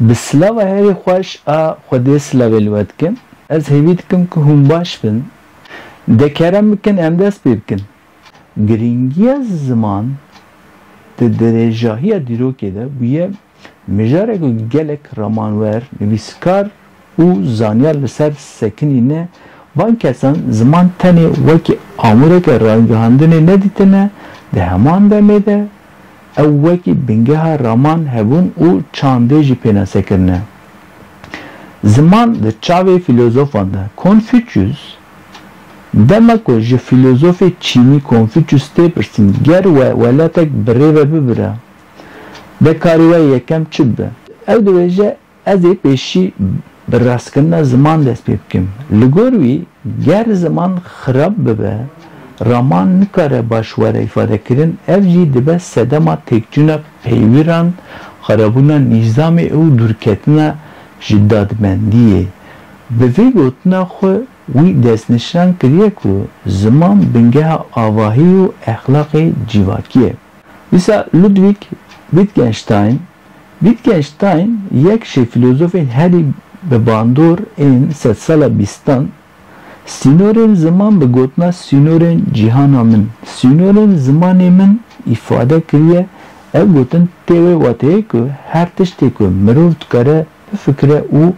Bi silava herî xweş a Xwedê silavê li we dikim. Ez hêvî dikim ku hûn baş bin. De kerem bikin em dest pê bikin. Girîngiya ziman di dirêjahiya dîrokê de bûye mijarê ku gelek ramanwer, nivîskar û zanyar li ser sekinîne. Van kesan ziman tenê wekî amûreke rayîngihandinê nedîtine di heman demê de. Ew wekî bingeha raman hebûn û çandê jî pênase kirine. Ziman di çavê fîlozofan de. Konfûçyûs, dema ku ji fîlozofê çînî Konfûçyûs tê pirsîn ger we welatek bi rê ve bibire, de karî we yekem çi bibe? Ew dibêje. Ez ê pêşî bi rastkirina ziman dest pê bikim. Li gor wî ger ziman xirab bibe, raman nikare baş were îfadekirin, ev jî dibe sedema têkçûna peywîran, xirabûna nîzamê û dûrketina ji dadmendiyê. Bi vê gotina xwe wî destnîşan kiriye ku ziman bingeha avahî û exlaqê cîvakî ye. Dîsa Ludwig Wittgenstein Wittgenstein yek ji filozofên herî bi bandor ên sedsala bîstan, Sînorên ziman bi gotina sînorên cîhana min, sînorên zimanê min îfade kiriye, ev gotin tê wê wateyê ku her tiştê ku mirov dikare bifikire û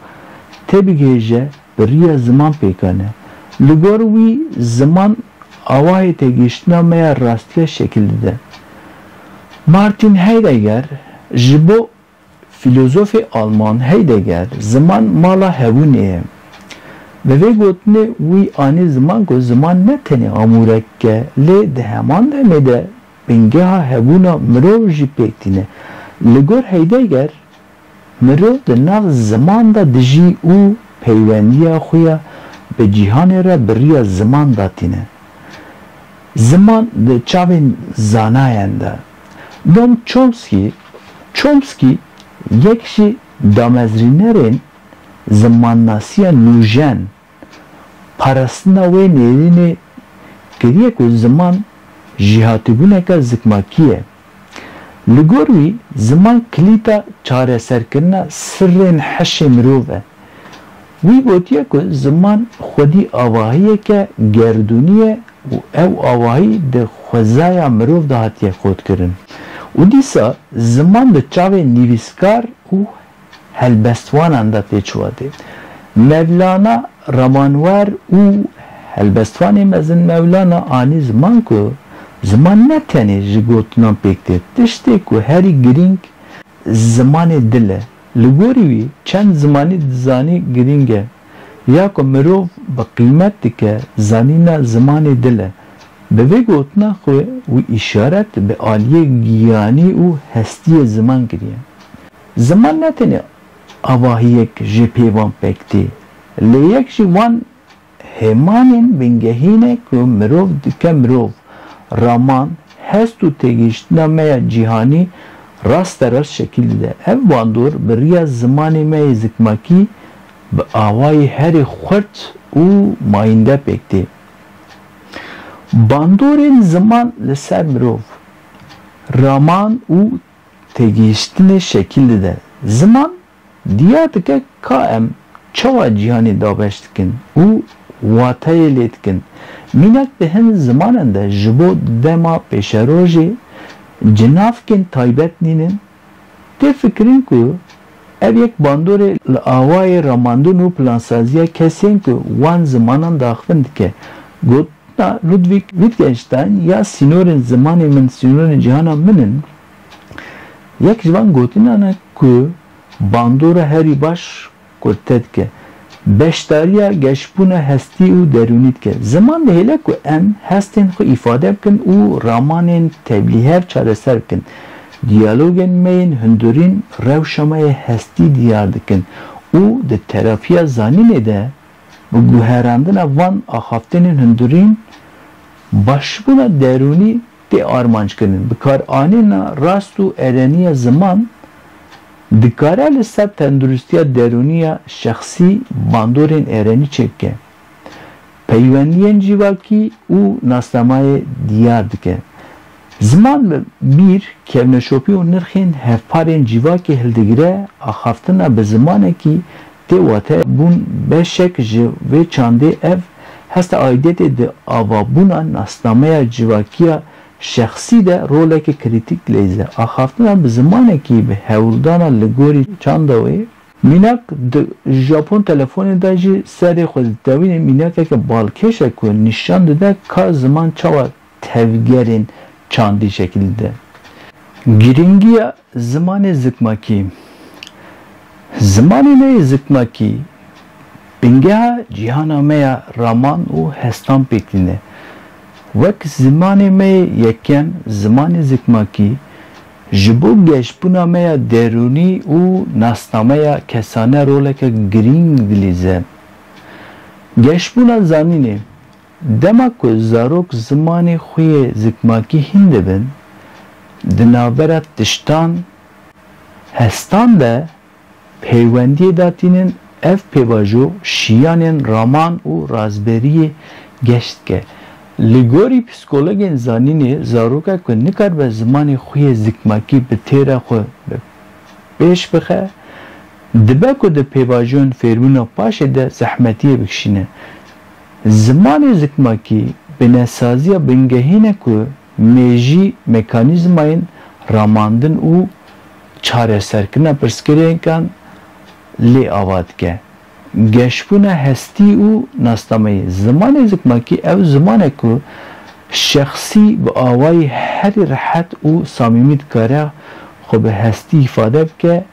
têbigihêje Bi riya ziman pêka ne. Li gor wî ziman awayê têgihiştina me ya rastiya şekil dide. Martin Heidegger Ji bo fîlozofê alman Heidegger ziman mala hebûnê ye. Bi vê gotinê wî anî ziman ku ziman ne tenê amûrek e lê di heman demê de bingeha hebûna mirov jî pêk tîne. Li gor Heidegger, Mirov di nav ziman de dijî û peywendiya xwe ya bi cîhanê re bi riya ziman de tîne. Ziman di çavên zanayan de. Noam Chomsky, Chomsky yek ji damezrînerên zimannasiya nûjen Parastina wê nêrînê kiriye ku ziman jêhatîbûneke zikmakî ye. Li gor wî ziman kilîta çareserkirina sirrên hişê mirov e. Wî gotiye ku ziman xwedî avahiyeke gerdûnî ye û ew avahî di xwezaya mirov de hatiye kodkirin û dîsa ziman di çavê nivîskar û helbestvanan de tê çûwa dê. Mevlana, Ramanwer û helbestvanê mezin Mevlana anî ziman ku ziman ne tenê ji gotinan pêk tê, tiştê ku herî girîng zimanê dil e. Li gorî wî çend zimanî dizanî girîng e. Ya ku mirov bi qîmet dike zanîna zimanê dil e. Bi vê gotina xwe wî îşaret bi aliyê giyanî û hestiyê ziman kiriye. Ziman ne tenê avahiyek jê pê wan pek tê, lê yek ji wan hêmanên bingehîn e ku mirov dike mirov, raman, hest û têgihiştina me ya cîhanî rasterast şekîl dide. Ev bandor bi riya zimanê me yê zikmakî bi awayê herî xurt û mayînde pêk tê. Bandorên ziman li ser mirov, raman û. Têgihiştinê şekîl dide. Ziman diyar dike ka em çawa cîhanê dabeş dikin û wateyê lê dikin. Mînak di hin zimanan de ji bo dema pêşerojê cinavkên taybet nînin. Tê fikirin ku Ev yek bandorê li awayê ramandin û plansaziya kesên ku wan zimanan diaxivin dike. Gotina Ludwig Wittgenstein ya sînorên zimanê min sînorên cîhana min in, yek ji van gotinan e ku bandora herî baş kurte dike. Beşdariya geşbûna hestî û derûnî dike. Ziman dihêle ku em hestên xwe îfade bikin û ramanên tevlîhev çareser bikin. Diyalogên me yên hundirîn rewşa me yê hestî diyar dikin û di terapiya zanînê de bi guherandina van axaftinên hundirîn, başbûna derûnî Tê armanckirinin. Bikaranîna rast û erenî ya ziman dikare li ser tenduristîya derûnî ya şexsî bandorên erenî çêk bike, peywendîyên cîvakî û nasnamayê dîyar dike. Ziman bi bîr, kevneşopî û nirxên hevparên cîvakê hildigire, axaftina bi zimanekî Tê wate bûn beşek ji vê çandê ev hesta aîdiyetê di avabûna nasnameya civakiya şexsî de roleke krîtîk leyze. Axaftina bi zimanekî bi hewldana li gorî çanda wê ye. Mînak di Japon telefonê de jî serê xwe ditewîne mînakeke balkêş e ku nîşan dide ka ziman çawa tevgerên çandî şekil dide. Girîngiya zimanê zikmakî Zimanê me yê zikmakî bingeha cîhana me ya raman û hestan pêk tîne. Wek zimanê me yê yekem, zimanê zikmakî ji bo geşbûna me ya derûnî û nasnameya kesane roleke girîng dilîze. Geşbûna zanînê Dema ku zarok zimanê xwe yê zikmakî hîn dibin, di navbera tiştan, hestan de peywendiyê da tînin, ev pêvajo şiyanên raman û razberiyê geş dike. Li gorî psîkologên zanînê, zarokek ku nikaribe zimanê xwe yê zikmakî bi têra xwe bi pêş bixe, dibe ku di pêvajoyên fêrbûna paşê de zehmetiyê bikişîne. Zimanê zikmakî binesaziya bingehî ne ku mêjî mekanîzmayên ramandin û çareserkirina pirsgirêkan lê ava dike. Geşbûna hestî û nasnameyî, Zimanê zikmakî ew ziman e ku şexsî bi awayî herî rehet û samîmî dikare xwe bi hestî îfade bike,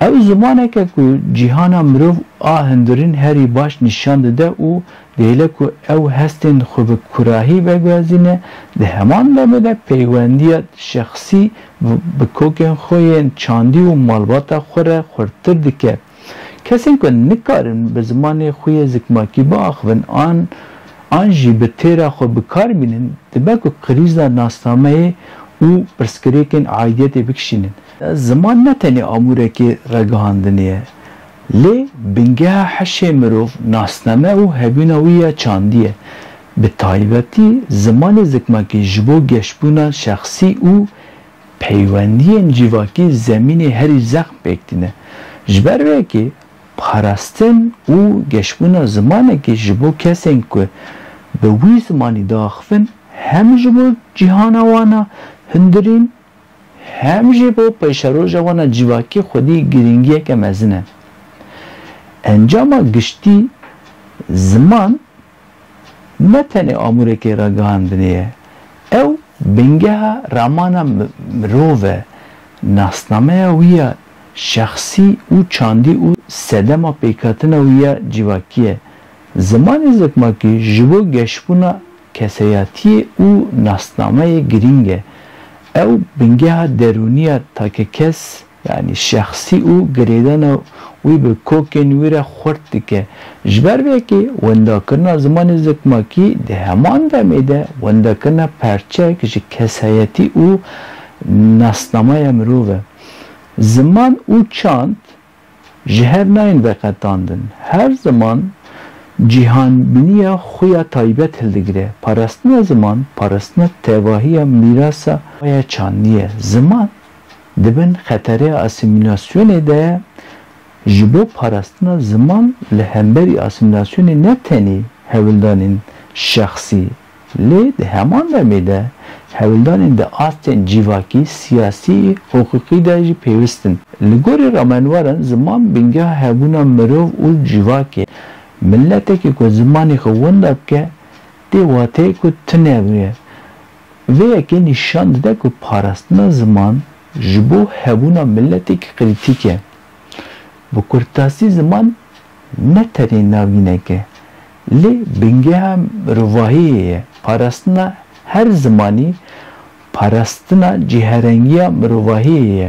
Ew zimanek e ku cîhana mirov a hundirîn herî baş nîşan dide û dihêle ku ew hestên xwe bi kurahî veguhezîne, di heman demê de peywendiya şexsî bi kokên xwe yên çandî û malbata xwe re xurttir dike. Kesên ku nikarin bi zimanê xwe yê zikmakî biaxivin an an jî bi têra xwe bi kar bînin, dibe ku krîza nasnameyê û pirsgirêkên aîdiyetê bikişînin. Ziman ne tenê amûrekê ragihandinê ye, lê bingeha hişê mirov, nasname û hebûna wî ya çandî ye. Bi taybetî zimanê zikmakî ji bo geşbûna şexsî û peywendiyên cîvakî zemînê herî zexm pêk tîne. Ji ber vê yekê parastin û geşbûna zimanekî ji bo kesên ku bi wî zimanî diaxivin hem ji bo cîhana wan a hundirîn, hem jî bo peyşeroja wan a civakî xwedî girîngiyeke mezin e. Encama giştî, ziman ne tenê amûrekê ragihandinê ye, ew bingeha ramana mirov e, nasnameya wî ya şexsî û çandî û sedema pêkhatina wî ya civakî ye. Zimanê zikmakî ji bo geşbûna Keseyatiyê û nasnameyê girîng e. Ew bingeha derûnî ya takekes yanî şexsî û girêdana wî bi kokên wî re xurt dike. Ji ber vê yekê wendakirina zimanê zikmakî di heman demê de wendakirina perçek ji kesayetî û nasnameya mirov e. Ziman û çand. ji hev nayên veqetandin. Her ziman cîhanbiniya xwe ya taybet hildigire. Parastina ziman, parastina tevahiya mîrasa xwe ya çandî ye. Ziman di bin xetereya asîmîlasyonê de ye. Ji bo parastina ziman li hemberî asîmîlasyonê ne tenê hevildanên şexsî, Lê di heman demê de hevildanên di astên cîvakî, siyasî, hiqûqî de jî pêwist in. Li gorî ramenweran ziman bingeha hebûna mirov û cîvak e. Miletekî ku zimanê xwe winda bike tê wateyê ku tune bûye. Vê yekê nîşan dide ku parastina ziman ji bo hebûna miletekî krîtîk e. Bi kurtasî ziman ne tenê navînek e. Lê bingeha mirovahiyê ye parastina her zimanî, parastina cîherengiya mirovahiyê ye.